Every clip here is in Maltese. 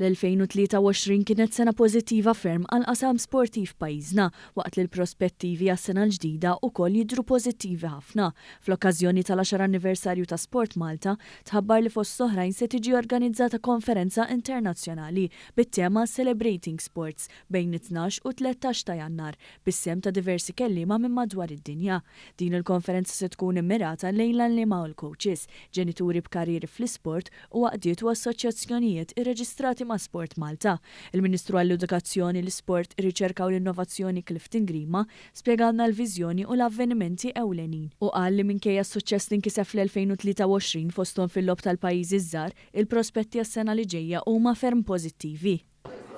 L-2023 kienet sena pożittiva ferm għall-qasam sportiv f'pajjiżna, waqt li l-prospettivi għas-sena l-ġdida wkoll jidhru pożittivi ħafna. Fl-okkażjoni tal-għaxar anniversarju ta' SportMalta, tħabbar li fost l-oħrajn se tiġi organizzata konferenza internazzjonali bit-tema Celebrating Sports bejn it-tnax u t-tlettax ta' Jannar, bis-sehem ta' diversi kelliema minn madwar id-dinja. Din il-konferenza se tkun immirata lejn l-għalliema u l-kowċis, ġenituri b'karrieri fl-isport, u għaqdiet u assoċjazzjonijiet irreġistrati ma' SportMalta. Il-Ministru għall-Edukazzjoni, l-Isport, ir-Riċerka u l-Innovazzjoni Clifton Grima spjegalna l-viżjoni u l-avvenimenti ewlenin u qal li minkejja s-suċċess li nkiseb fl-2023 fosthom fil-Logħob tal-Pajjiżi ż-Żgħar, il-prospetti għas-sena li ġejja huma ferm pożittivi.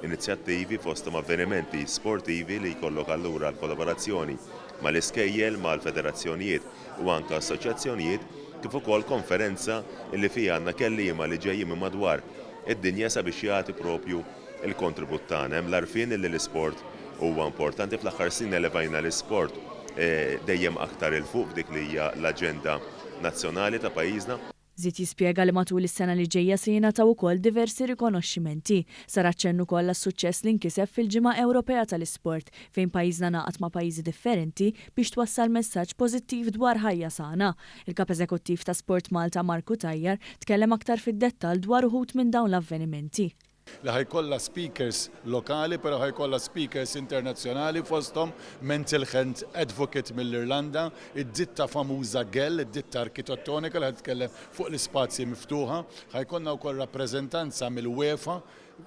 Inizjattivi, fosthom avvenimenti sportivi li jkollok allura l-kollaborazzjoni mal-iskejjel, mal-federazzjonijiet u anke assoċjazzjonijiet, kif ukoll konferenza li fiha għandna kelliema li ġejjin minn madwar id-dinja sabiex jagħti propju l-kontribut tagħna. Hemm l-għarfien li l-isport huwa importanti. Fl-aħħar snin elevajna l-isport dejjem aktar 'il fuq f'dik li hija l-aġenda nazzjonali ta' pajjiżna. Żied jispjega li matul is-sena li ġejja se jingħataw ukoll diversi rikonoxximenti. Sar aċċenn ukoll għas-suċċess li nkiseb fil-Ġimgħa Ewropea tal-Isport, fejn pajjiżna ngħaqad ma' pajjiżi differenti biex twassal messaġġ pożittiv dwar ħajja sana. Il-Kap Eżekuttiv ta' Sport Malta Mark Cutajar tkellem aktar fid-dettall dwar uħud minn dawn l-avvenimenti. li ħa jkollha speakers lokali però ħa jkollha speakers internazzjonali fosthom mental health advocate mill-Irlanda, id-ditta famuża Gell, id-ditta arkitettonika li ħa titkellem fuq l-ispazji miftuħa. Ħa jkollna wkoll rappreżentanza mill-UEFA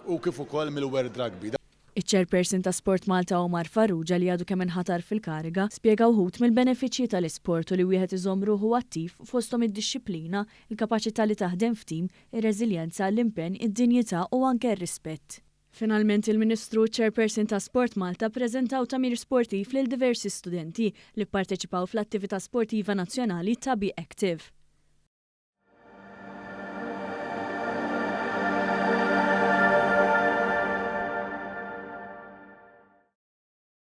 u kif ukoll mill-World Rugby. Iċ-Chairperson ta' Sport Malta Omar Farrugia li għadu kemm inħatar fil-kariga, spjega wħud mill-benefiċċji tal-isport u li wieħed iżomm ruħu attiv fosthom id-dixxiplina, il-kapaċità li taħdem f'tim, ir-reżiljenza, l-impenn, id-dinjità u anke r-rispett. Finalment il-Ministru u ċ-Chairperson ta' Sport Malta ppreżentaw tagħmir sportiv lil diversi studenti li pparteċipaw fl-attività sportiva nazzjonali ta' Be Active.